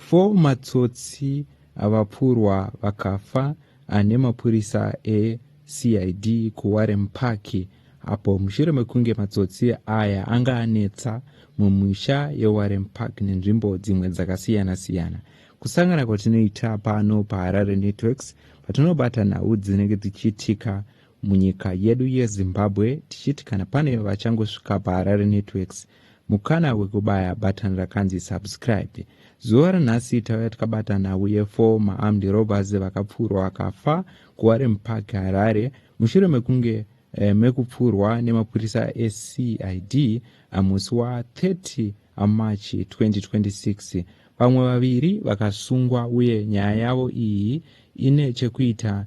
Four matsotsi avapfurwa vakafa ane mapurisa eCID kuWarren Park apo mushure mekunge matsotsi aya anga anetsa mumisha yeWarren Park nenzvimbo dzimwe dzakasiyana siyana. Kusangana kwatinoita pano paHarare Networks patinobata nhau dzinenge dzichiitika munyika yedu yeZimbabwe tichiti kana pane vachangosvika paHarare Networks mukana wekubaya button rakanzi subscribe zuva ranhasi tauya tikabata nhau yefo maarmed robbers vakapfuurwa vakafa kuwarem park harare mushure mekunge eh, mekupfuurwa nemapurisa ecid musi wa30 amarch 2026 vamwe vaviri vakasungwa uye nyaya yavo iyi ine chekuita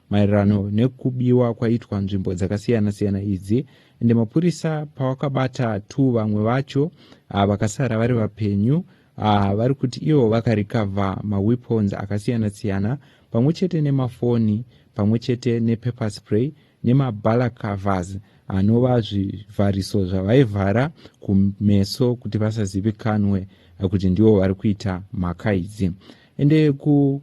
Maererano nekubiwa kwaitwa nzvimbo dzakasiyana siyana idzi ende mapurisa pawakabata two vamwe vacho ah, vakasara vari vapenyu ah, vari kuti ivo vakarikavha maweapons akasiyana siyana pamwe chete nemafoni pamwe chete nepaper spray nemabala covers anova zvivhariso zvavaivhara kumeso kuti vasazivikanwe kuti ndivo vari kuita mhaka idzi ende ku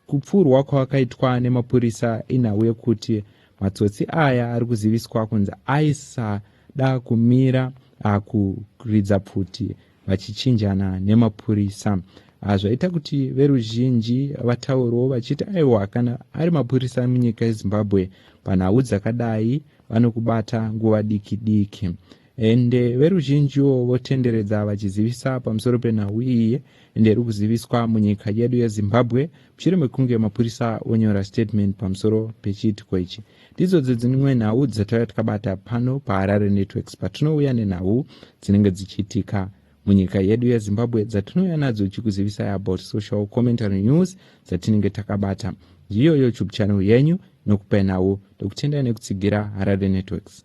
Kupfurwa kwakaitwa nemapurisa inhau yekuti matsotsi aya ari kuziviswa kunzi aisada kumira ah, kuridza pfuti vachichinjana nemapurisa ah, zvaita kuti veruzhinji vataurewo vachiti aiwa kana ari mapurisa munyika yezimbabwe panhau dzakadai vanokubata nguva diki diki ende veruzhinjiwo votenderedza vachizivisa pamusoro penhau iyi ende iri kuziviswa munyika yedu yezimbabwe mushure mekunge mapurisa onyora statement pamusoro pechiitiko ichi ndidzo dzedzimwe nhau dzatauya tikabata pano paharare networks patinouya nenhau dzinenge dzichiitika munyika yedu yezimbabwe dzatinouya nadzo tichikuzivisai about social commentary news dzatinenge takabata ndiyo youtube channel yenyu nokupai nhau ndokutendai nekutsigira harare networks